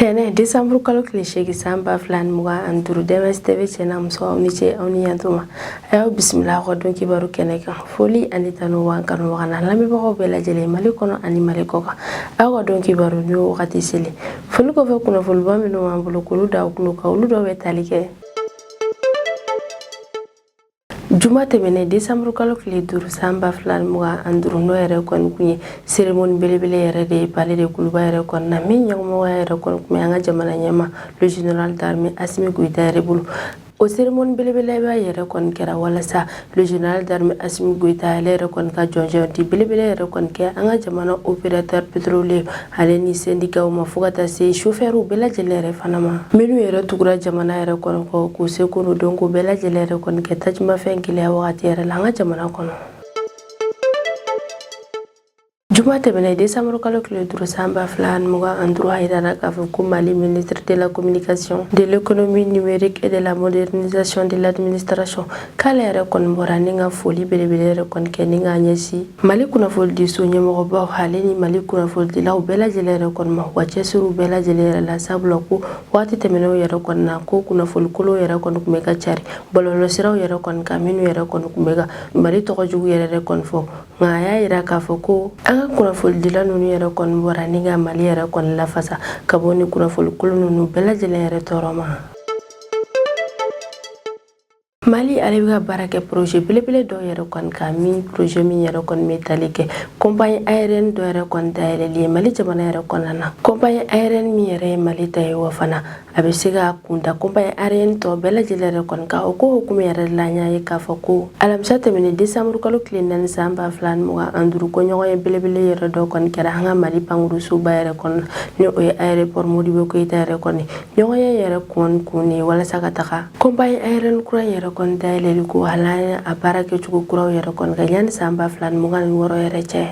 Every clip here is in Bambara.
tɛnɛ desanburu kalo tile seegin san ba fila ni mugan ani duuru dms tv cɛ n'a muso aw ni ce aw ni yantuma a y'aw bisimila aw ka don kibaru kɛnɛ kan foli ani tanu b'an kanubaga n'an lamɛnbagaw bɛɛ lajɛlen mali kɔnɔ ani mali kɔ kan aw ka don kibaru ni wagati selen foli kɔfɛ kunnafoliba minnu b'an bolo k'olu da aw tulo kan olu dɔ bɛ tali kɛ juma tɛmɛnɛ desanburu kalo tile duuru san ba fila ni mugan ani duuru n'o yɛrɛ kɔni kun ye seremoni belebele yɛrɛ de ye palais de kuluba yɛrɛ kɔni na min ɲɛmɔgɔya yɛrɛ kɔni kun bɛ an ka jamana ɲɛmaa le général d'armée asimi goyita yɛrɛ bolo o seremoni belebeleba yɛrɛ kɔni kɛra walasa le général d'armée asimi goyita ale yɛrɛ kɔni ka jɔnjɔn di belebele yɛrɛ kɔni kɛ an ka jamana opérateur pétrolier ale ni sendikaw ma fo ka taa se sofɛriw bɛɛ lajɛlen yɛrɛ fana ma minnu yɛrɛ tugura jamana yɛrɛ kɔni kɔ k'u seko dɔnko bɛɛ lajɛlen yɛrɛ kɔni kɛ tajimafɛn gɛlɛya wagati yɛrɛ la an ka jamana kɔnɔ juma tɛmɛnɛ desanburu kalo tile duuru san ba fila ani mugan ani duuru a yirara k'a fɔ ko mali ministre de la communication de l'économie numérique et de la modernisation de l'administration k'ale yɛrɛ kɔni bɔra ni ka foli belebele yɛrɛ kɔni kɛ ni k'a ɲɛsin mali kunnafonidiso ɲɛmɔgɔbaw ale ni mali kunnafonidilaw bɛɛ lajɛlen yɛrɛ kɔni ma u ka cɛsiriw bɛɛ lajɛlen yɛrɛ la sabula ko waati tɛmɛnenw yɛrɛ kɔni na ko kunnafoni kolonw yɛrɛ kɔni tun bɛ ka cari bɔlɔlɔsiraw yɛrɛ kɔni kan minnu yɛrɛ kɔni tun bɛ ka mali tɔgɔ jugu yɛrɛ yɛrɛ kɔni fɔ nka a y'a yira k'a fɔ ko an ka kunnafonidila ninnu yɛrɛ kɔni bɔra ni ka mali yɛrɛ kɔni lafasa ka bɔ ni kunnafoni kolon ninnu bɛɛ lajɛlen yɛrɛ tɔɔrɔ ma Mali ale bɛ ka baara kɛ projet belebele dɔw yɛrɛ kɔni kan min projet min yɛrɛ kɔni bɛ tali kɛ compagnie aérienne dɔ yɛrɛ kɔni dayɛlɛli ye Mali jamana yɛrɛ kɔnɔna na compagnie aérienne min yɛrɛ ye Mali ta ye wa fana a bɛ se ka kunda compagnie aérienne tɔ bɛɛ lajɛlen yɛrɛ kɔni kan o ko hukumu yɛrɛ la an y'a ye k'a fɔ ko alamisa tɛmɛnen décembre kalo tile naani san ba fila ni mugan ani duuru ko ɲɔgɔnye belebele yɛrɛ dɔ kɔni kɛra an ka Mali pankurunsoba yɛrɛ kɔnɔ ni o ye aéroport Modibo Keyita yɛrɛ kɔni ɲɔgɔnye yɛrɛ kɔni kun ye walasa ka taga compagnie aérienne kura yɛrɛ kɔni dayɛlɛli ko halaya a baara kɛcogo kuraw yɛrɛ kɔni kan yanni san ba fila ni mugan ni wɔɔrɔ yɛrɛ cɛ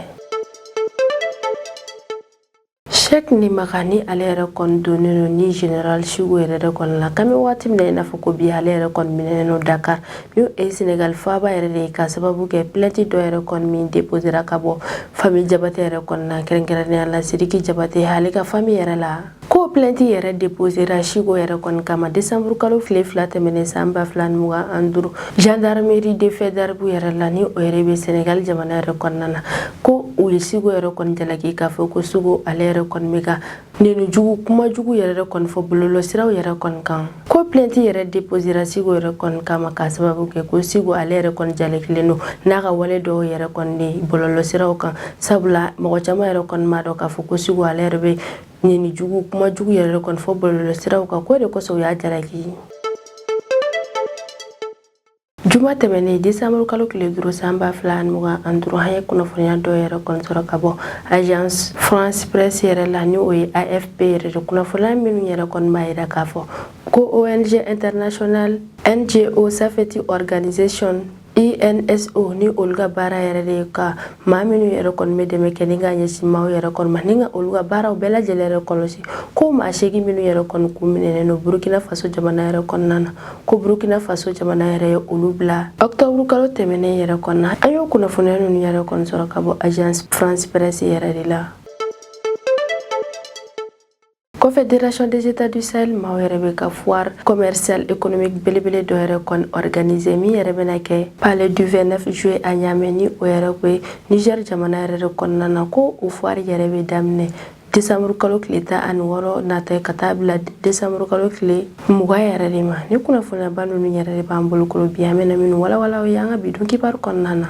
Sheikh Nimaga ni ale yɛrɛ kɔni dɔnnen don ni Général Chico yɛrɛ de kɔni la kami waati min na i n'a fɔ ko bi ale yɛrɛ kɔni minɛnen don Dakar ni o ye Senegal faaba yɛrɛ de ye ka sababu kɛ plainte dɔ yɛrɛ kɔni min déposera ka bɔ famille Jabate yɛrɛ kɔni na kɛrɛnkɛrɛnnenya la Sidiki Jabate ale ka famille yɛrɛ la Ko plainte yɛrɛ deposera Chico yɛrɛ kɔni kama décembre kalo tile fila tɛmɛnen san ba fila ni mugan ani duuru gendarmerie de Faidherbe yɛrɛ la ni o yɛrɛ bɛ Senegal jamana yɛrɛ kɔnɔna na ko u ye Chico yɛrɛ kɔni jalaki k'a fɔ ko Chico ale yɛrɛ kɔni bɛ ka neni jugu kuma jugu yɛrɛ kɔni fɔ bɔlɔlɔsiraw yɛrɛ kɔni kan ko plainte yɛrɛ deposera Chico yɛrɛ kɔni kama k'a sababu kɛ ko Chico ale yɛrɛ kɔni jalakilen don n'a ka wale dɔw yɛrɛ kɔni de bɔlɔlɔsiraw kan sabula mɔgɔ caman yɛrɛ kɔni m'a dɔn k'a fɔ ko Chico ale yɛrɛ bɛ Neni jugu kuma jugu yɛrɛ kɔni fɔ bɔlɔlɔsiraw kan ko o de kosɔn u y'a jalaki juma tɛmɛnen desanburu kalo tile duuru san ba fila ani mugan ani duuru an ye kunnafoniya dɔ yɛrɛ kɔni sɔrɔ ka bɔ agence france presse yɛrɛ la ni o ye AFP yɛrɛ de kunnafoniya minnu yɛrɛ kɔni b'a yira k'a fɔ ko ong international ngo safety organisation INSO ni olu ka baara yɛrɛ de ye ka maa minnu yɛrɛ kɔni bɛ dɛmɛ kɛ ni ka ɲɛsin maaw yɛrɛ kɔni ma ni ka olu ka baaraw bɛɛ lajɛlen yɛrɛ kɔlɔsi ko maa seegin minnu yɛrɛ kɔni kun minɛnen don Burkina Faso jamana yɛrɛ kɔnɔna na ko Burkina Faso jamana yɛrɛ ye olu bila octobre kalo tɛmɛnen yɛrɛ kɔnɔna an y'o kunnafoniya ninnu yɛrɛ kɔni sɔrɔ ka bɔ agence France Presse yɛrɛ de la Confédération des États du Sahel maaw yɛrɛ bɛ ka foire commerciale économique belebele dɔ yɛrɛ kɔni organiser min yɛrɛ bɛna kɛ palais du 29 juillet à Niamey ni o yɛrɛ bɛ Niger jamana yɛrɛ de kɔnɔna na ko o foire yɛrɛ bɛ daminɛ desanburu kalo tile tan ani wɔɔrɔ nata ka taa bila desanburu kalo tile mugan yɛrɛ de ma ni kunnafoniyaba ninnu yɛrɛ de b'an bolo kɔrɔ bi an bɛna minnu walawala aw ye an ka bi don kibaru kɔnɔna na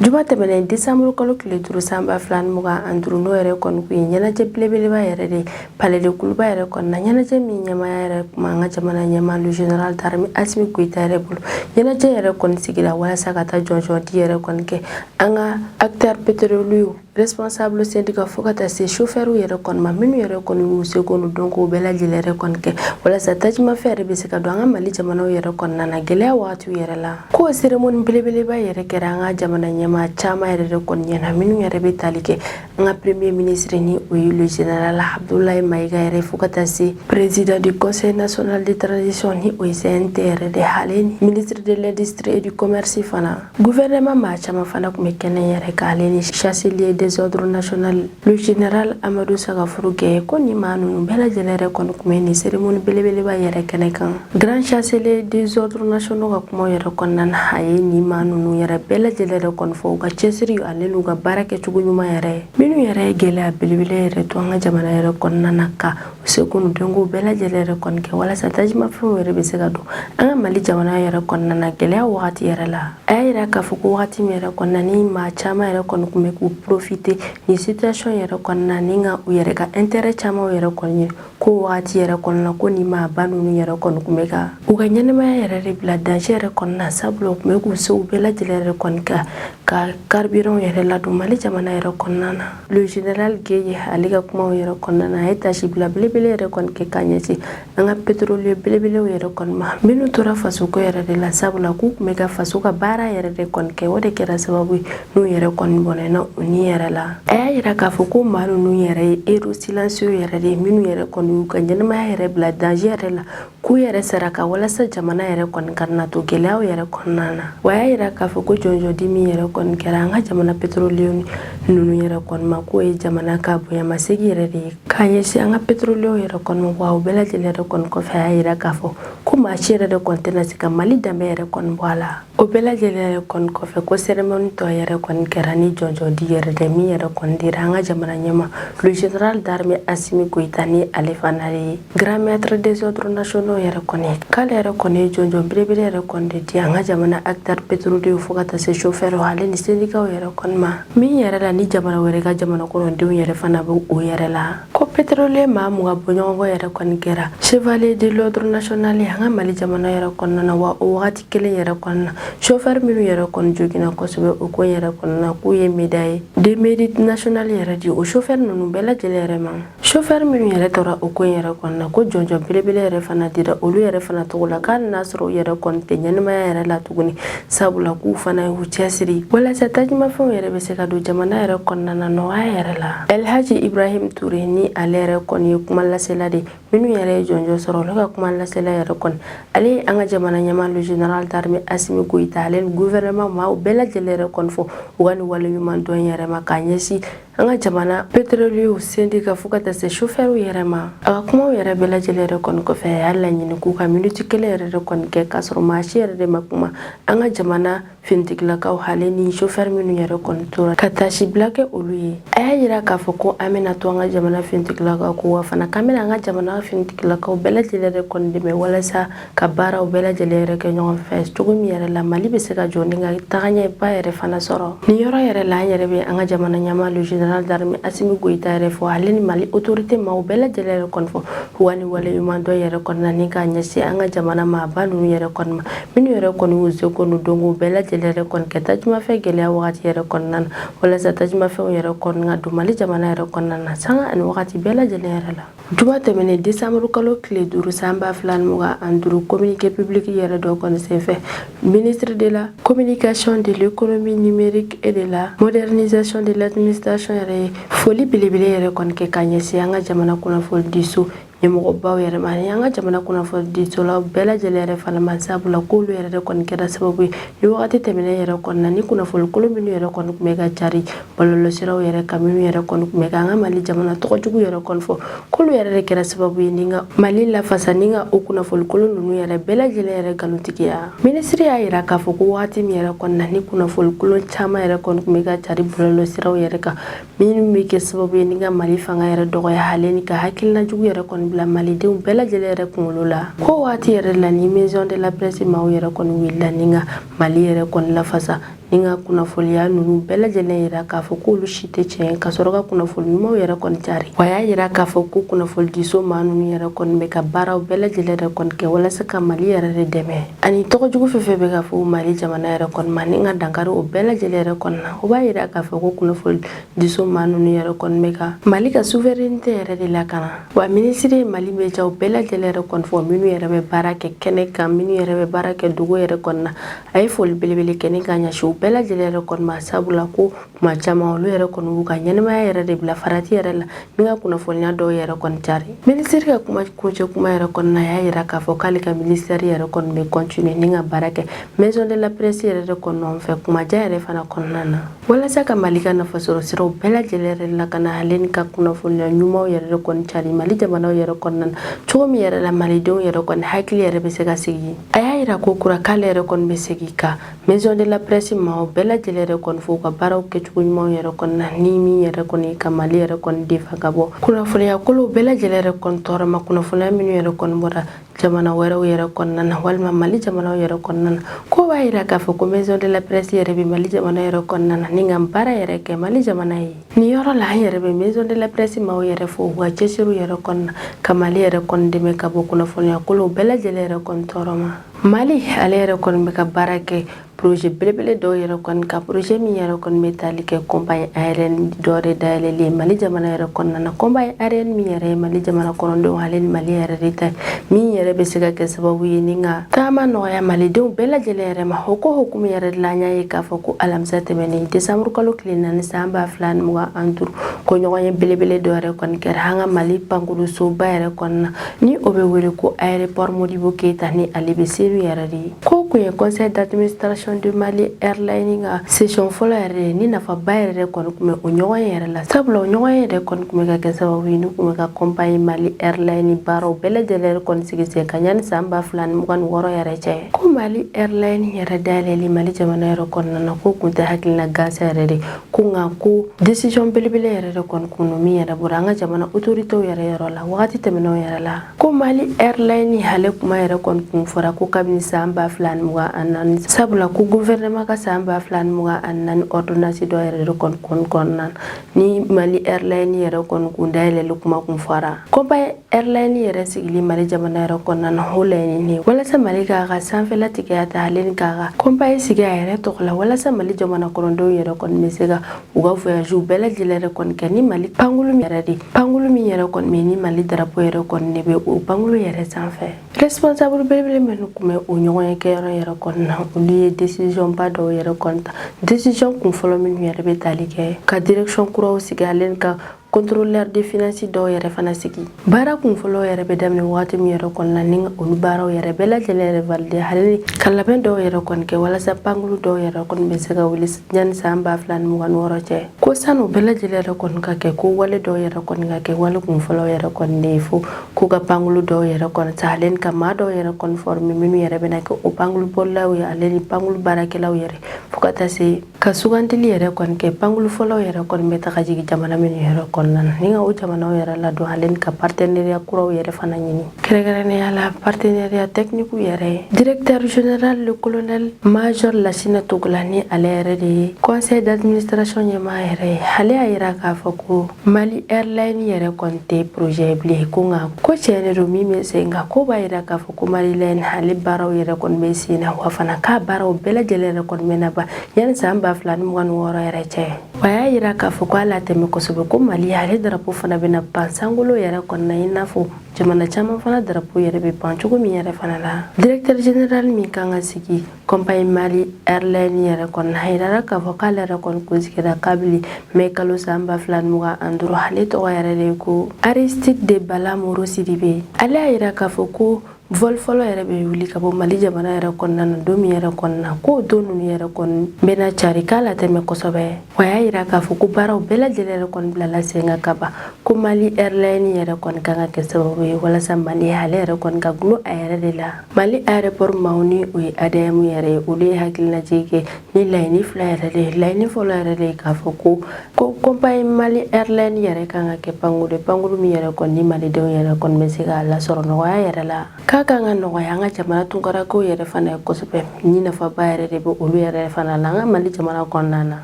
Juma tɛmɛnen desanburu kalo tile duuru san ba fila mugan ani duuru n'o yɛrɛ kɔni tun ye ɲɛnajɛ belebeleba yɛrɛ de palais de Kuluba yɛrɛ kɔnɔ na ɲɛnajɛ min ɲɛmaaya yɛrɛ tun b'an ka jamana ɲɛmaa le général d'armée Assimi Goïta yɛrɛ bolo ɲɛnajɛ yɛrɛ kɔni sigira walasa ka taa jɔnjɔn di yɛrɛ kɔni kɛ an ka acteurs pétroliers responsable syndicat fo ka taa se chauffeur yɛrɛ kɔni ma minnu yɛrɛ kɔni y'u seko n'u dɔnko bɛɛ lajɛlen yɛrɛ kɔni kɛ walasa tajimafɛn yɛrɛ bɛ se ka don an ka mali jamana yɛrɛ kɔnɔna na gɛlɛya wagatiw yɛrɛ la ko cérémonie belebeleba yɛrɛ kɛra an ka jamana ɲɛmaa caman yɛrɛ de kɔni ɲɛna minnu yɛrɛ bɛ tali kɛ an ka premier ministre ni o ye le général Abdoulaye Maïga yɛrɛ fo ka taa se président du conseil national de transition ni o ye CNT yɛrɛ de hale ni ministre de l'industrie et du commerce fana Gouvernement maa caman fana tun bɛ kɛnɛ yɛrɛ kan ale ni chancelier des ordres nationaux le général Amadou Sagafourou Gueye ko nin maa ninnu bɛɛ lajɛlen yɛrɛ kɔni tun bɛ nin cérémonie belebeleba yɛrɛ kɛnɛ kan grand chancelier des ordres nationaux ka kumaw yɛrɛ kɔnɔna na a ye nin maa ninnu yɛrɛ bɛɛ lajɛlen yɛrɛ kɔni fo u ka cɛsiri ani n'u ka baara kɛcogo ɲuman yɛrɛ minnu yɛrɛ ye gɛlɛya belebele yɛrɛ to an ka jamana yɛrɛ kɔnɔna na ka seko n'u dɔnko bɛɛ lajɛlen yɛrɛ kɔni kɛ walasa tajimafɛnw yɛrɛ bɛ se ka don an ka mali jamana yɛrɛ kɔnɔna na gɛlɛya wagati yɛrɛ la a y'a yira k'a fɔ ko wagati min yɛrɛ kɔnɔna ni maa caman yɛrɛ kɔni tun bɛ k'u profiter nin situation yɛrɛ kɔnɔna ni ka u yɛrɛ ka intérêt caman yɛrɛ kɔni ye ko wagati yɛrɛ kɔnɔna ko ni maa ba ninnu yɛrɛ kɔni tun bɛ ka u ka ɲɛnamaya yɛrɛ de bila danger yɛrɛ kɔnɔna sabula u tun bɛ k'u sew bɛɛ lajɛlen yɛrɛ kɔni kɛ ka carburant yɛrɛ ladon mali jamana yɛrɛ kɔnɔna na Le général Gueye ale ka kuma yɛrɛ kɔnɔna na a ye tasi bila belebele yɛrɛ kɔni kɛ k'a ɲɛsin an ka petrolier belebelew yɛrɛ kɔni ma minnu tora fasoko yɛrɛ de la sabula k'u tun bɛ ka faso ka baara yɛrɛ de kɔni kɛ o de kɛra sababu ye n'u yɛrɛ kɔni bɔnɛna u ni yɛrɛ la a y'a yira k'a fɔ ko maa ninnu yɛrɛ ye héros silencieux yɛrɛ de ye minnu yɛrɛ kɔni y'u ka ɲɛnamaya yɛrɛ bila danger yɛrɛ la k'u yɛrɛ saraka walasa jamana yɛrɛ kɔni kana to gɛlɛyaw yɛrɛ kɔnɔna na wa a y'a yira k'a fɔ ko jɔnjɔn di min yɛrɛ kɔni kɛra an ka jamana petroliyew ninnu yɛrɛ kɔni ma k'o ye jamana ka bonyamasegi yɛrɛ de ye k'a ɲɛsin an ka petroliyew yɛrɛ kɔni ma wa o bɛɛ lajɛlen yɛrɛ kɔni kɔfɛ a y'a yira k'a fɔ ko maa si yɛrɛ de kɔni tɛna se ka mali danbe yɛrɛ kɔni bɔ a la o bɛɛ lajɛlen yɛrɛ kɔni kɔfɛ ko sɛrɛmɔni tɔ yɛrɛ kɔni kɛra ni jɔnjɔndi yɛrɛ de min yɛrɛ kɔni dira an ka jamana ɲɛmaa le général d'armée asimi goyita ni ale fana ye grand maître des ordres nationaux yɛrɛ kɔni k'ale yɛrɛ kɔni ye jɔnjɔn belebele yɛrɛ kɔni de di an ka jamana acteur petrolier fo ka taa se chauffeur ale ni sendikaw yɛrɛ kɔni ma min yɛrɛ la ni jamana wɛrɛ ka jamana kɔnɔdenw yɛrɛ fana bɛ o yɛrɛ la ko petrolier maa mugan bɔɲɔgɔnko yɛrɛ kɔni kɛra chevalier de l'ordre national ye an ka mali jamana yɛrɛ kɔnɔna na wa o wagati kelen yɛrɛ kɔnɔna chauffeur minnu yɛrɛ kɔni joginna kosɛbɛ o ko yɛrɛ kɔnɔna k'u ye médaille de mérite national yɛrɛ di o chauffeur ninnu bɛɛ lajɛlen yɛrɛ ma chauffeur minnu yɛrɛ tora o ko yɛrɛ kɔnɔna ko jɔnjɔn belebele yɛrɛ fana dira olu yɛrɛ fana tɔgɔ la k'a n'a sɔrɔ u yɛrɛ kɔni tɛ ɲɛnamaya yɛrɛ la tuguni sabula k'u fana y'u cɛsiri walasa tajimafɛnw yɛrɛ bɛ se ka don jamana yɛrɛ kɔnɔna na nɔgɔya yɛrɛ la elhaji ibrahim ture ni ale yɛrɛ kɔni ye kuma lasela de minnu yɛrɛ ye jɔnjɔn sɔrɔ olu ka kuma lasela yɛrɛ kɔni ale ye an ka jamana ɲɛmaa le général d'armée Asimi Goyita ale ni gouvernement maaw bɛɛ lajɛlen yɛrɛ kɔni fo u ka nin waleɲuman dɔn yɛrɛ ma k'a ɲɛsin an ka jamana petroliyew sendika fo ka taa se shofɛriw yɛrɛ ma a ka kumaw yɛrɛ bɛɛ lajɛlen yɛrɛ kɔni kɔfɛ a y'a laɲini k'u ka miniti kelen yɛrɛ de kɔni kɛ k'a sɔrɔ maa si yɛrɛ de ma kuma an ka jamana finitigilakaw ale ni chauffeur minnu yɛrɛ kɔni tora ka tasi bila kɛ olu ye a y'a yira k'a fɔ ko an bɛna to an ka jamana finitigilakaw kɔ wa fana k'an bɛna an ka jamana finitigilakaw bɛɛ lajɛlen yɛrɛ kɔni dɛmɛ walasa ka baaraw bɛɛ lajɛlen yɛrɛ kɛ ɲɔgɔn fɛ cogo min yɛrɛ la mali bɛ se ka jɔ ni ka tagaɲɛba yɛrɛ fana sɔrɔ nin yɔrɔ yɛrɛ la an yɛrɛ bɛ an ka jamana ɲɛmaa le général d'armée asimi goyita yɛrɛ fo ale ni mali autorité maaw bɛɛ lajɛlen yɛrɛ kɔni fo u ka nin waleɲuman dɔn yɛrɛ kɔnɔna ni k'a ɲɛsin an ka jamana maaba ninnu yɛrɛ kɔni ma minnu yɛrɛ kɔni y'u seko n'u dɔnko bɛɛ lajɛlen yɛrɛ kɔni kɛ tajimafɛn gɛlɛya wagati yɛrɛ kɔnɔna na walasa tajimafɛnw yɛrɛ kɔni ka don mali jamana yɛrɛ kɔnɔna na sanga ani wagati bɛɛ lajɛlen yɛrɛ la juma tɛmɛnen desanburu kalo tile duuru san ba fila ni mugan ani duuru communiqué public yɛrɛ dɔ kɔni senfɛ ministre de la communication de l'économie numérique et de la modernisation de l'administration yɛrɛ ye foli belebele yɛrɛ kɔni kɛ ka ɲɛsin an ka jamana kunnafoni di so ɲɛmɔgɔbaw yɛrɛ ma ani an ka jamana kunnafonidisolaw bɛɛ lajɛlen yɛrɛ fana ma sabula k'olu yɛrɛ de kɔni kɛra sababu ye ni wagati tɛmɛnen yɛrɛ kɔni na ni kunnafoni kolon minnu yɛrɛ kɔni tun bɛ ka cari bɔlɔlɔsiraw yɛrɛ kan minnu yɛrɛ kɔni tun bɛ ka an ka mali jamana tɔgɔjugu yɛrɛ kɔni fɔ k'olu yɛrɛ de kɛra sababu ye ni ka mali lafasa ni ka o kunnafoni kolon ninnu yɛrɛ bɛɛ lajɛlen yɛrɛ nkalontigiya minisiri y'a yira k'a fɔ ko wagati min yɛrɛ kɔni na ni kunnafoni kolon caman yɛrɛ kɔni tun bɛ ka cari bɔlɔlɔsiraw yɛrɛ kan minnu bɛ kɛ sababu ye ni ka mali fanga yɛrɛ dɔgɔya ale ni ka hakilina jugu yɛrɛ kɔni bila malidenw bɛɛ lajɛlen yɛrɛ kunkolo la k'o waati yɛrɛ la ni maison de la presse maaw yɛrɛ kɔni wulila ni ka mali yɛrɛ kɔni lafasa ni ka kunnafoliya ninnu bɛɛ lajɛlen yira k'a fɔ k'olu si tɛ tiɲɛ ka sɔrɔ ka kunnafoli ɲumanw yɛrɛ kɔni cari wa y'a yira k'a fɔ ko kunnafolidiso maa ninnu yɛrɛ kɔni bɛ ka baaraw bɛɛ lajɛlen yɛrɛ kɔni kɛ walasa ka mali yɛrɛ de dɛmɛ ani tɔgɔ jugu fɛn fɛn bɛ ka fɔ mali jamana yɛrɛ kɔni ma ni ka dankari o bɛɛ lajɛlen yɛrɛ kɔni na o b'a yira k'a fɔ ko kunnafoni diso maa ninnu yɛrɛ kɔni bɛ ka mali ka souveraineté yɛrɛ de lakana wa minisiri ye mali médiaw bɛɛ lajɛlen yɛrɛ kɔni fo minnu yɛrɛ bɛ baara kɛ kɛnɛ kan minnu yɛrɛ bɛ baara kɛ dugu yɛrɛ kɔnɔna a ye foli belebele kɛ ka ɲɛsin u bɛɛ lajɛlen yɛrɛ kɔni ma sabula ko tuma caman olu yɛrɛ kɔni b'u ka ɲɛnɛmaya yɛrɛ de bila farati yɛrɛ la ni ka kunnafoniya dɔw yɛrɛ kɔni cari minisiri ka kuma kuncɛ kuma yɛrɛ kɔnɔna a y'a yira k'a fɔ k'ale ka ministère yɛrɛ kɔni bɛ continuer ni ka baara kɛ maison de la presse yɛrɛ de kɔni fɛ tuma jan yɛrɛ fana kɔnɔna na walasa ka mali ka nafasɔrɔ siraw bɛɛ lajɛlen yɛrɛ lakana ale ni ka kunnafoniya ɲumanw yɛrɛ de kɔni cari mali jamanaw yɛrɛ kɔnɔna na cogo min yɛrɛ la malidenw yɛrɛ kɔni hakili yɛrɛ bɛ se ka sigi a y'a yira ko kura k'ale yɛrɛ kɔni bɛ segi ka maison de la presse maaw bɛɛ lajɛlen yɛrɛ kɔni fo u ka baaraw kɛcogo ɲumanw yɛrɛ kɔni na ni min yɛrɛ kɔni ka mali yɛrɛ kɔni défendre ka bɔ kunnafoniya kolonw bɛɛ lajɛlen yɛrɛ kɔni tɔɔrɔ ma kunnafoniya minnu yɛrɛ kɔni bɔra jamana wɛrɛw yɛrɛ kɔnɔna na walima mali jamanaw yɛrɛ kɔnɔna na k'o b'a yira k'a fɔ ko maison de la presse yɛrɛ bɛ mali jamana yɛrɛ kɔnɔna na ni ka baara yɛrɛ kɛ mali jamana ye nin yɔrɔ la an yɛrɛ bɛ maison de la presse maaw yɛrɛ fo u ka cɛsiriw yɛrɛ kɔnɔna ka mali yɛrɛ kɔni dɛmɛ ka bɔ kunnafoniya kolonw bɛɛ lajɛlen yɛrɛ kɔni tɔɔrɔ ma Mali ale yɛrɛ kɔni bɛ ka baara kɛ poroze belebele dɔw yɛrɛ kɔni kan poroze min yɛrɛ kɔni bɛ tali kɛ compagnie aérienne dɔ yɛrɛ dayɛlɛlen mali jamana yɛrɛ kɔnɔna na compagnie aérienne min yɛrɛ ye mali jamana kɔnɔdenw ale ni mali yɛrɛ de ta min yɛrɛ bɛ se ka kɛ sababu ye ni ka taama nɔgɔya malidenw bɛɛ lajɛlen yɛrɛ ma o ko hukumu yɛrɛ la an y'a ye k'a fɔ ko alamisa tɛmɛnen desanburu kalo tile naani san ba fila ni mugan ani duuru ko ɲɔgɔnye belebele dɔ yɛrɛ kɔni kɛra an ka mali pankulusoba yɛrɛ kɔnɔna na ni o bɛ wele ko aéroport Modibo Keyita ni ale bɛ Senu yɛrɛ de ye k'o kun ye conseil d'administration de Mali airline ka session fɔlɔ yɛrɛ de ye ni nafaba yɛrɛ kɔni kun bɛ o ɲɔgɔnye yɛrɛ la sabula o ɲɔgɔnye yɛrɛ kɔni kun bɛ ka kɛ sababu ye ni kun bɛ ka compagnie Mali airline baaraw bɛɛ lajɛlen yɛrɛ kɔni sigi sen kan yanni san ba fila ni mugan ni wɔɔrɔ yɛrɛ cɛ ko Mali airline yɛrɛ dayɛlɛli Mali jamana yɛrɛ kɔnɔna na k'o kun tɛ hakilina gansan yɛrɛ de ko nka ko desizɔn belebele yɛrɛ de kɔni kun don min yɛrɛ bɔra an ka jamana otoritew yɛrɛ yɔrɔ la wagati tɛmɛnenw yɛrɛ la ko mali ɛrlayini ale kuma yɛrɛ kɔni kun fɔra ko kabini san ba fila ani mugan ani naani sabula ko guvɛrɛnɛma ka san ba fila ani mugan ani naani ɔrdonansi dɔ yɛrɛ de kɔni kɔnɔna na ni mali ɛrlayini yɛrɛ kɔni kun dayɛlɛli kuma kun fɔra kɔnpa Airline yɛrɛ sigili Mali jamana yɛrɛ kɔnɔna na o laɲini walasa Mali k'a ka sanfɛla tigiya ta ale ni k'a ka kɔnpayi sigi a yɛrɛ tɔgɔ la walasa Mali jamana kɔnɔdenw yɛrɛ kɔni bɛ se ka u ka voyagew bɛɛ lajɛlen yɛrɛ kɔni kɛ ni Mali pankulu min yɛrɛ de pankulu min yɛrɛ kɔni bɛ ni Mali darapo yɛrɛ kɔni de bɛ o pankulu yɛrɛ sanfɛ responsable belebele minnu kun bɛ o ɲɔgɔnye kɛyɔrɔ yɛrɛ kɔni na olu ye décision ba dɔw yɛrɛ kɔni ta décision kun fɔlɔ minnu yɛrɛ bɛ tali kɛ ka direction kuraw sigi ale ni ka contrôleur de finance dɔw yɛrɛ fana sigi baara kun fɔlɔ yɛrɛ bɛ daminɛ wagati min yɛrɛ kɔnɔna ni olu baaraw yɛrɛ bɛɛ lajɛlen yɛrɛ valide hali ka labɛn dɔw yɛrɛ kɔni kɛ walasa pankulu dɔw yɛrɛ kɔni bɛ se ka wuli yanni san ba fila ni mugan ni wɔɔrɔ cɛ ko sani u bɛɛ lajɛlen yɛrɛ kɔni ka kɛ ko wale dɔw yɛrɛ kɔni ka kɛ wale kun fɔlɔ yɛrɛ kɔni de ye fo k'u ka pankulu dɔw yɛrɛ kɔni ta ale ni ka maa dɔw yɛrɛ kɔni former minnu yɛrɛ bɛna kɛ o pankulu bolilaw ye ale ni pankulu baarakɛlaw yɛrɛ fo ka taa se ka sugandili yɛrɛ kɔni kɛ pankulu fɔlɔw yɛrɛ kɔni bɛ taga jigin jamana minnu yɛrɛ kɔnɔna na ni ka o jamanaw yɛrɛ ladon ale ni ka partenariya kuraw yɛrɛ fana ɲini kɛrɛnkɛrɛnnenya la partenariya tɛkiniku yɛrɛ ye directeur général le colonel major lasina togola ni ale yɛrɛ de ye conseil d'administration ɲɛmaa yɛrɛ ye ale y'a yira k'a fɔ ko mali airline yɛrɛ kɔni tɛ projet ye bilen ko nka ko tiɲɛ de don min bɛ sen kan k'o b'a yira k'a fɔ ko Mali airline ale baaraw yɛrɛ kɔni bɛ sen na wa fana k'a baaraw bɛɛ lajɛlen yɛrɛ kɔni bɛna ban yanni san ba fila ni mugan ni wɔɔrɔ yɛrɛ cɛ a y'a yira k'a fɔ k'a latɛmɛ kosɛbɛ ko mali ale darapo fana bɛna pan sankolo yɛrɛ kɔnɔna i n'a fɔ jamana caman fana darapo yɛrɛ bɛ pan cogo min yɛrɛ fana la directeur général min kan ka sigi kɔnpayi mali ɛrilɛni yɛrɛ kɔnɔna a yirara k'a fɔ k'ale yɛrɛ kɔni kun sigira kabili mɛ kalo san ba fila ni mugan ani duuru ale tɔgɔ yɛrɛ de ye ko aristide de bala moro sidibe ale y'a yira k'a fɔ ko vɔli fɔlɔ yɛrɛ bɛ wuli ka bɔ mali jamana yɛrɛ kɔnɔna na don min yɛrɛ kɔnɔna k'o don ninnu yɛrɛ kɔni bɛna cari k'a latɛmɛ kosɛbɛ wa y'a yira k'a fɔ ko baaraw bɛɛ lajɛlen yɛrɛ kɔni bilala sen kan ka ban ko mali ɛrilɛni yɛrɛ kɔni kan ka kɛ sababu ye walasa mali ale yɛrɛ kɔni ka dulon a yɛrɛ de la Mali aéroport maaw ni o ye ADM yɛrɛ ye, olu ye hakilinajigi kɛ ni laɲini fila yɛrɛ de ye. Laɲini fɔlɔ yɛrɛ de ye k'a fɔ ko ko compagnie Mali Airline yɛrɛ ka kan ka kɛ pankuru ye, pankuru min yɛrɛ kɔni ni malidenw yɛrɛ kɔni bɛ se k'a lasɔrɔ nɔgɔya yɛrɛ la. K'a ka kan ka nɔgɔya an ka jamana tunkarakaw yɛrɛ fana ye kosɛbɛ, ni nafaba yɛrɛ de bɛ olu yɛrɛ fana la an ka Mali jamana kɔnɔna na.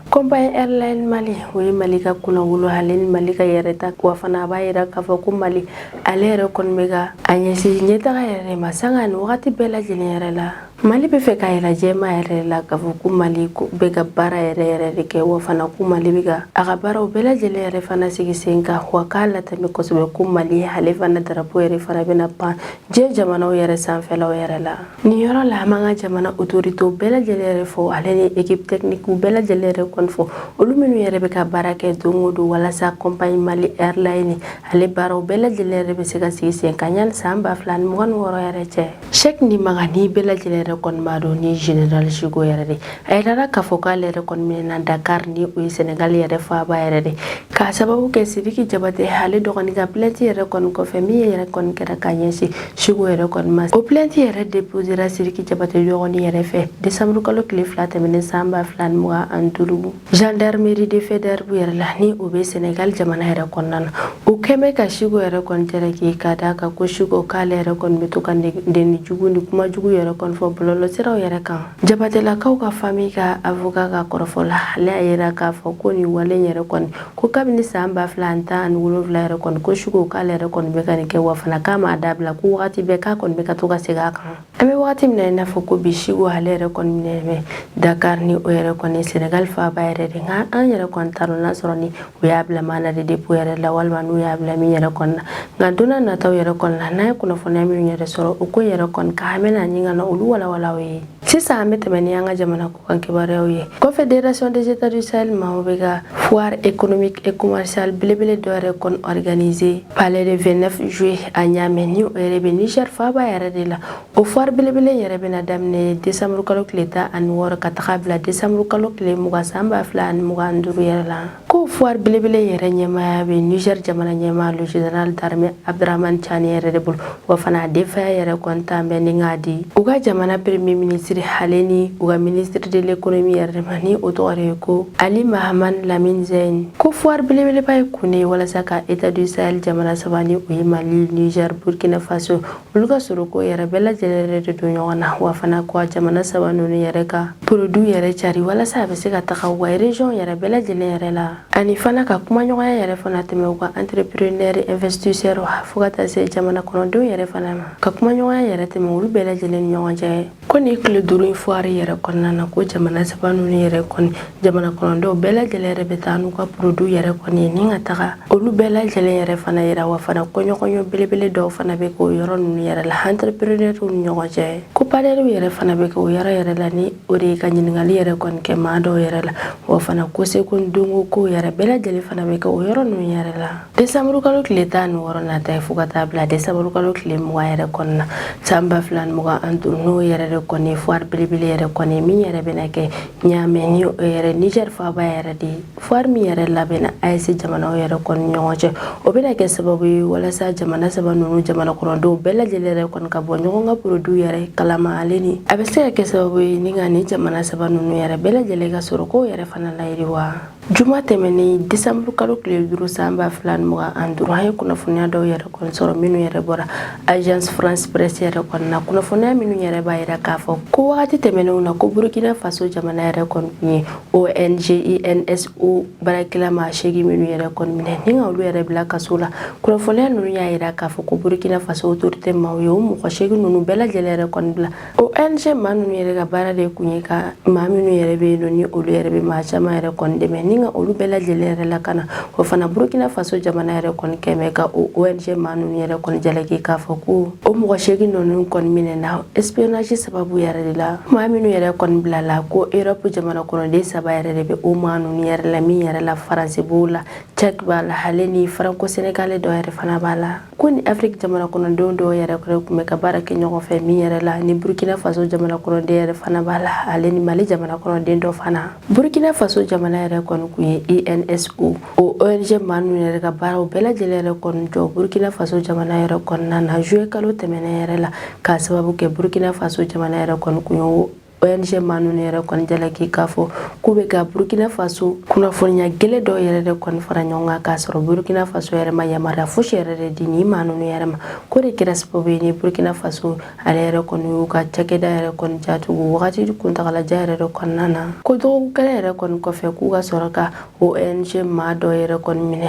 Compagnie Airline Mali o ye Mali ka kunnawolo ale ni Mali ka yɛrɛta wa fana a b'a yira k'a fɔ ko Mali ale yɛrɛ kɔni bɛ ka a ɲɛsin ɲɛtaga yɛrɛ de ma sanga ni wagati bɛɛ lajɛlen yɛrɛ la mali bɛ fɛ k'a yira jɛma yɛrɛ la k'a fɔ ko mali bɛ ka baara yɛrɛ yɛrɛ de kɛ wa fana ko mali bɛ ka a ka baaraw bɛɛ lajɛlen yɛrɛ fana sigi sen kan wa k'a latɛmɛ kosɛbɛ ko mali ale fana darapo yɛrɛ fana bɛna pan diɲɛ jamanaw yɛrɛ sanfɛlaw yɛrɛ la Nin yɔrɔ la an b'an ka jamana autorités bɛɛ lajɛlen yɛrɛ fo ale ni équipe technique bɛɛ lajɛlen yɛrɛ kɔni fo olu minnu yɛrɛ bɛ ka baara kɛ don o don walasa compagnie Mali Airline ale baaraw bɛɛ lajɛlen yɛrɛ bɛ se ka sigi sen kan yanni san ba fila ni mugan ni wɔɔrɔ yɛrɛ cɛ. Cheikh Nimaga ni bɛɛ lajɛlen yɛrɛ kɔni b'a dɔn ni Général Chico yɛrɛ de a yirala k'a fɔ k'ale yɛrɛ kɔni minɛna dakar ni o ye senegal yɛrɛ faaba yɛrɛ de k'a sababu kɛ sidiki jabate ale dɔgɔnin ka plainte yɛrɛ kɔni kɔfɛ min yɛrɛ kɔni kɛra ka ɲɛsin Chico yɛrɛ kɔni ma o plainte yɛrɛ deposera sidiki jabate dɔgɔnin yɛrɛ fɛ desanburu kalo tile fila tɛmɛnen san ba fila ni mugan ani duuru gendarmerie de Faidherbe yɛrɛ la ni o bɛ senegal jamana yɛrɛ kɔnɔna na u kɔni bɛ ka Chico yɛrɛ kɔni jalaki k'a d'a kan ko Chico k'ale yɛrɛ kɔni bɛ to ka neni jugu ni kuma jugu yɛrɛ kɔni fɔ bɔlɔlɔsiraw yɛrɛ kan Jabatɛlakaw ka famille ka avocat ka kɔrɔfɔ la ale y'a yira k'a fɔ ko nin wale yɛrɛ kɔni ko kabini san ba fila ani tan ani wolonwula yɛrɛ kɔni ko Chico k'ale yɛrɛ kɔni bɛ ka nin kɛ wa fana k'a m'a dabila ko waati bɛɛ k'a kɔni bɛ ka to ka segin a kan an bɛ waati min na i n'a fɔ ko bi Chico ale yɛrɛ kɔni minɛ dakari ni o yɛrɛ kɔni sɛnɛgali faaba yɛrɛ de nka an yɛrɛ kɔni t'a dɔn n'a sɔrɔ ni u y'a bila mandat de dépôt yɛrɛ la walima n'u y'a bila min yɛrɛ kɔni na nka don nataw yɛrɛ kɔni na n'an ye kunnafoniya minnu yɛrɛ sɔrɔ o ko yɛrɛ kɔni kan an bɛna ɲini ka na olu walawala aw ye sisan an bɛ tɛmɛ ni an ka jamana kɔkan kibaruyaw ye confederation des états du sahel maaw bɛ ka foire économique et commerciale belebele dɔ yɛrɛ kɔni organise palais de 29 juillet à Niamey ni o yɛrɛ bɛ niger faaba yɛrɛ de la O foire belebele yɛrɛ bɛna daminɛ desanburukalo tile tan ani wɔɔrɔ ka taga bila desanburukalo tile mugan san ba fila ani mugan duuru yɛrɛ la ko foire belebele yɛrɛ ɲɛmaaya bɛ niger jamana ɲɛmaa le general d'armée abdraman tiani yɛrɛ de bolo wa fana a denfaya yɛrɛ kɔni tan bɛ ni k'a di u ka jamana premier ministre ale ni u ka ministre de l'économie yɛrɛ de ma ni o tɔgɔ de ye ko ali mahaman lamine zeine ko foire belebeleba ye kun de ye walasa ka état du sahel jamana saba ni o ye mali niger burkina faso olu ka sɔrɔko yɛrɛ bɛɛ lajɛlen yɛrɛ de don ɲɔgɔn na wa fana ko a jamana saba ninnu yɛrɛ ka produits yɛrɛ cari walasa a bɛ se ka taga u ka région yɛrɛ bɛɛ lajɛlen yɛrɛ la ani fana ka kumaɲɔgɔnya yɛrɛ fana tɛmɛ u ka entrepreneurs investisseurs fo ka taa se jamana kɔnɔdenw yɛrɛ fana ma ka kumaɲɔgɔnya yɛrɛ tɛmɛ olu bɛɛ lajɛlen ni ɲɔgɔn cɛ ko nin tile duuru in fuwari yɛrɛ kɔnɔna na ko jamana saba ninnu yɛrɛ kɔni jamana kɔnɔdenw bɛɛ lajɛlen yɛrɛ bɛ taa n'u ka produits yɛrɛ kɔni ye ni ka taga olu bɛɛ lajɛlen yɛrɛ fana yira wa fana ko ɲɔgɔnye belebele dɔw fana bɛ kɛ o yɔrɔ ninnu yɛrɛ la entrepreneurs ni ɲɔgɔn cɛ ko panɛliw yɛrɛ fana bɛ kɛ o yɔrɔ yɛrɛ la ni o de ye ka ɲininkali yɛrɛ kɔni kɛ maa dɔw yɛrɛ la wa fana ko seko ni dɔnko kow yɛrɛ bɛɛ lajɛlen fana bɛ kɛ o yɔrɔ ninnu yɛrɛ la desanburukalo tile tan ni wɔɔrɔ nata ye fo ka taa bila desanburukalo tile mugan yɛrɛ kɔnɔna na san ba fila ni mugan ani duuru n'o yɛrɛ de kɔni fuwari belebele yɛrɛ kɔni min yɛrɛ bɛna kɛ ɲaamɛ ni o yɛrɛ nizɛri faaba yɛrɛ de ye fuwari min yɛrɛ labɛnna AES jamanaw yɛrɛ kɔni ɲɔgɔn cɛ o bɛna kɛ sababu ye walasa jamana saba ninnu jamana kɔnɔdenw bɛɛ lajɛlen yɛrɛ kɔni ka bɔ ɲɔgɔn ka produits yɛrɛ kalama ale ni a bɛ se ka kɛ sababu ye ni ka ni jamana saba ninnu yɛrɛ bɛɛ lajɛlen ka sɔrɔ kow yɛrɛ fana layiriwa Juma tɛmɛnen desanburu kalo tile duuru san ba fila ni mugan ani duuru an ye kunnafoniya dɔw yɛrɛ sɔrɔ minnu yɛrɛ bɔra Agence France Presse yɛrɛ kɔnɔna na kunnafoniya minnu yɛrɛ b'a yira k'a fɔ ko waati tɛmɛnenw na ko burukina faso jamana yɛrɛ kɔni kun ye ONG INSO baarakɛla maa seegin minnu yɛrɛ kɔni minɛ ni ka olu yɛrɛ bila kaso la kunnafoniya ninnu y'a jira k'a fɔ ko burukina faso autorité maaw ye o mɔgɔ seegin ninnu bɛɛ lajɛlen yɛrɛ kɔni bila ONG maa ninnu yɛrɛ ka baara de kun ye ka maa minnu yɛrɛ bɛ yen ni olu yɛrɛ bɛ maa caman yɛrɛ kɔni dɛmɛ ni ka olu bɛɛ lajɛlen yɛrɛ lakana o fana Burkina Faso jamana yɛrɛ kɔni kun bɛ ka o ONG maa ninnu yɛrɛ kɔni jalaki k'a fɔ ko o mɔgɔ seegin ninnu kɔni minɛna espionnage sababu yɛrɛ de la maa minnu yɛrɛ kɔni bilala ko Europe jamana kɔnɔden saba yɛrɛ de bɛ o maa ninnu yɛrɛ la min yɛrɛ la France b'o la Tchèque b'a la ale ni Franco-Sénégalais dɔ yɛrɛ fana b'a la ko ni afiriki jamana kɔnɔdenw dɔw yɛrɛ kɔni tun bɛ ka baara kɛ ɲɔgɔn fɛ min yɛrɛ la ni burkina faso jamana kɔnɔden yɛrɛ fana b'a la ale ni mali jamana kɔnɔden dɔ fana burkina faso jamana yɛrɛ kɔni kun ye INSO o ONG maa ninnu yɛrɛ ka baaraw bɛɛ lajɛlen yɛrɛ kɔni jɔ burkina faso jamana yɛrɛ kɔnɔna na zuye kalo tɛmɛnen yɛrɛ la k'a sababu kɛ burkina faso jamana yɛrɛ kɔni kun ye ONG maa ninnu yɛrɛ kɔni jalaki k'a fɔ k'u bɛ ka Burkina Faso kunnafoniya gɛlɛn dɔ yɛrɛ de kɔni fara ɲɔgɔn kan k'a sɔrɔ Burkina Faso yɛrɛ ma yamaruya fosi yɛrɛ de di nin maa ninnu yɛrɛ ma k'o de kɛra sababu ye ni Burkina Faso ale yɛrɛ kɔni y'u ka cakɛda yɛrɛ kɔni datugu wagati kuntagalajan yɛrɛ de kɔnɔna na ko dɔgɔkun kelen yɛrɛ kɔni kɔfɛ k'u ka sɔrɔ ka ONG maa dɔ yɛrɛ kɔni minɛ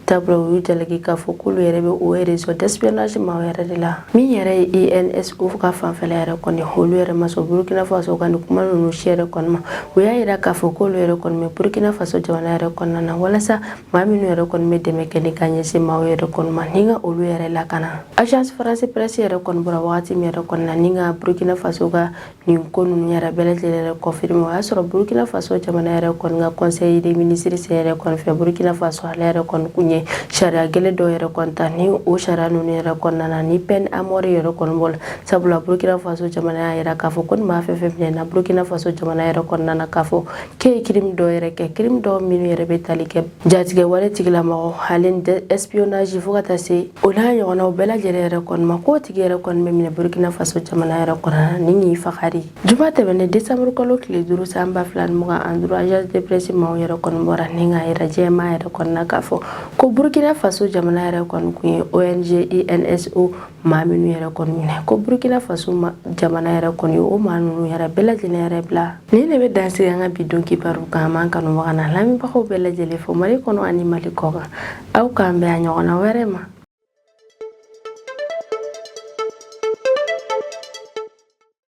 sabula u y'u jalaki k'a fɔ k'olu yɛrɛ bɛ o réseau d'espionnage maaw yɛrɛ de la min yɛrɛ ye INSO ka fanfɛla yɛrɛ kɔni olu yɛrɛ ma sɔn Burkina Faso ka nin kuma ninnu si yɛrɛ kɔni ma u y'a jira k'a fɔ k'olu yɛrɛ kɔni bɛ Burkina Faso jamana yɛrɛ kɔnɔna na walasa maa minnu yɛrɛ kɔni bɛ dɛmɛ kɛ ni ka ɲɛsin maaw yɛrɛ kɔni ma ni ka olu yɛrɛ lakana agence France presse yɛrɛ kɔni bɔra wagati min yɛrɛ kɔnɔna ni ka Burkina Faso ka nin ko ninnu yɛrɛ bɛɛ lajɛlen yɛrɛ confirmer o y'a sɔrɔ burkina faso jamana yɛrɛ kɔni ka conseil des ministres sen yɛrɛ kɔni fɛ burkina faso ale yɛrɛ kɔni kun ye sariya gɛlɛn dɔw yɛrɛ kɔni ta ni o sariya ninnu yɛrɛ kɔnɔna na ni peine à mort yɛrɛ kɔni b'o la sabula burkina faso jamana y'a yira k'a fɔ ko ni maa fɛn fɛn minɛna burkina faso jamana yɛrɛ kɔnɔna na k'a fɔ k'e ye crime dɔw yɛrɛ kɛ crime dɔw minnu yɛrɛ bɛ tali kɛ Jatigɛ wale tigilamɔgɔ hali espionnage fo ka taa se o n'a ɲɔgɔnw bɛɛ lajɛlen yɛrɛ kɔni ma k'o tigi yɛrɛ kɔni bɛ minɛ burukina faso jamana yɛrɛ kɔnɔ ni k'i faga arijuma tɛmɛnen desanburu kalo tile duuru san ba fila mugan ani duuru agence de presse maaw yɛrɛ kɔni bɔra ni k'a yira jɛma yɛrɛ kɔni na k'a fɔ ko burukina faso jamana yɛrɛ kɔni tun ye ONG INSO maa minnu yɛrɛ kɔni minɛ ko burukina faso jamana yɛrɛ kɔni o maa ninnu yɛrɛ bɛɛ lajɛlen yɛrɛ bila Ni ne bɛ dan sigi an ka bi don kibaru kan an b'an kanubaga n'an lamɛnbagaw bɛɛ lajɛlen fo Mali kɔnɔ ani Mali kɔkan aw k'an bɛn a ɲɔgɔnna wɛrɛ ma